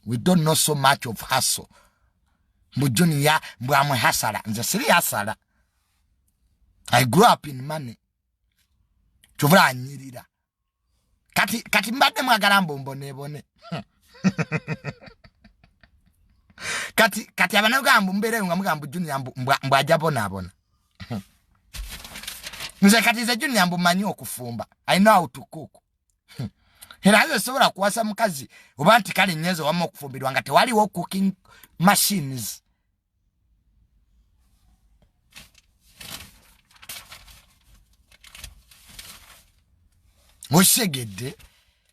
we don't know so much of hustle mbu junior mbu amwe hasala nze siri hasala i grew up in money kyovula anyirira kati kati mbadde mwagala mbu mbonebone kati kati abanauganda mbu mbeereyo nga mugamba junior mbu mbu aja bonaabona nze kati nze junior mbu manyi okufumba i know how to cook hmm. era yo sobola kuwasa mukazi oba nti kale nyenzo wamma okufumbirwa nga tewaliwo cooking machines osegedde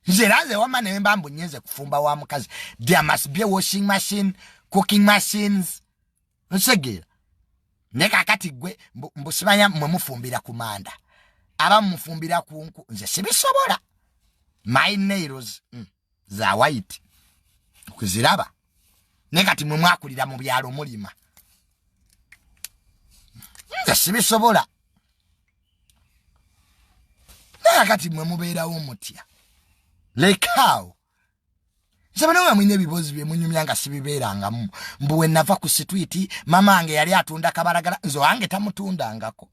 nze era nze wamma naye mba mbu nyenze kufumba wa mukazi there must be a washing machine cooking machines nsegeera naye kakati gwe mbusibanya mwe mufumbira ku manda aba mufumbira ku nku nze sibisobola my nails mm, za white okuziraba naye kati mwe mwakulira mu byalo mulima nze sibisobola naye kati mwe mubeerawo mutya lekaawo nsabana nga mulina ebibuuzi bye munyumya nga sibibeerangamu mbu we nava ku sitwiti mama wange yali atunda kabalagala nze wange tamutundangako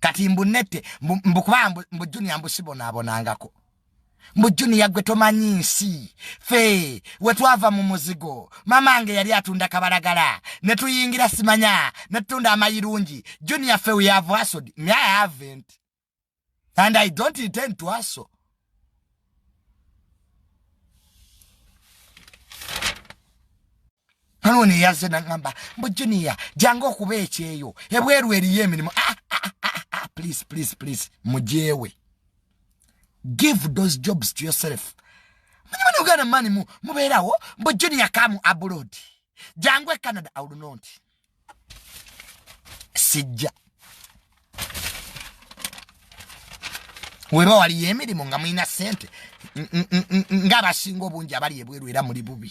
kati mbunette mbukuba mbu junia mbusibonaabonangako mbu junia gwe tomanyi nsi fe we twava mu muzigo mama wange yali atunda kabalagala ne tuyingira simanya ne tutunda amayirungi junia fe we have asod me i haven't and i don't intend to hustle kano ono eyaze nagamba mbu junior jangu okuba ekyeyo ebweru eriyo emirimu ah, ah, ah, please please please mujewe give those jobs to yourself manyimani uganda mani mubeerawo mbu junior kamu abroad jangu e canada aulunonti sijja weba waliyo emirimu nga mulina sente ngaabasinga obungi abali ebweru era muli bubi